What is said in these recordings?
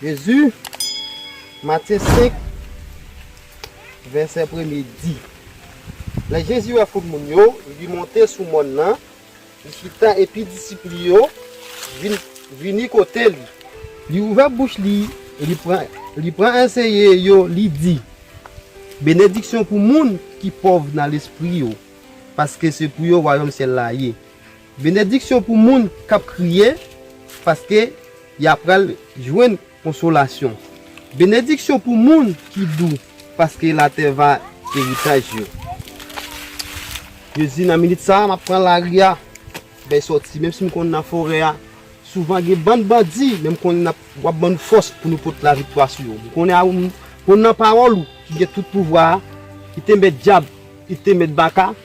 Jezi, Matye 5, vèsè premye di, Lè Jezi wè foul moun yo, li monte sou mòn nan, li chita epi disip li yo vini kote li. Li ouvè bouch li, li pran anseye yo, li di, Benediksyon pou moun ki pòv nan lespri yo, paske se pou yo wayòm syèl la ye. Benediksyon pou moun k ap kriye, paske y apral jwenn konsolasyon. Benediksyon pou moun ki dou, paske latè va eritaj yo. Jezi nan minit sa a m ap pran lari a bay sòti menm si m konn nan forè a souvan gen bann bandi men m konnen w ap ban nou fòs pou nou pot laviktwa sou yo m konnen a m konn nan pawòl ou ki gen tout pouvwa a ki te mèt dyab ki te mèt baka.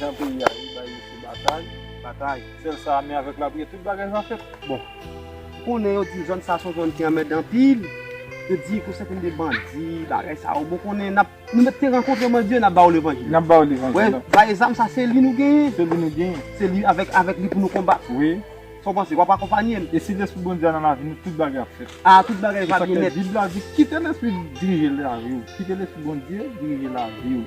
Jan peyi a ye bay mesye batay, batay. Sèl sa ame avèk lapriyè tout bagay va fèt. Bon ou konnen yo di zòn sa son zòn ki anmède anpil, yo di kou sèten de bandi bagay sa yo bon konnen nap nou mèt te rankontre mwen di yo nap ba ou levanjil. Nap ba ou levanjil. Wè bay zam sa se li nou genyen. Se li nou genyen. Se li avèk avèk li pou nou konbat. Wi. Sa ou panse wap akonpanye l. E si lespri Bondye a nan lavi nou tout bagay ap fèt. A tout bagay va byen nèt. Se sa k fè bib la di kite lespri dirije lavi ou. Kite lespri Bondye dirije lavi ou.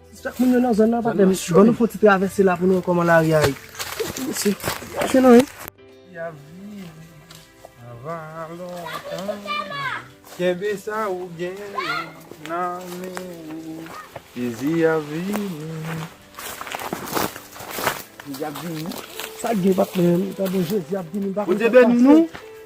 Chak moun yo nan zòn nan patnè m. Ban nou fon ti travèse la pou nou wè kòman lari a ye. Mesye, mache nan wi. Jezi ap vini. Sa gen patnè m. Bondye beni nou.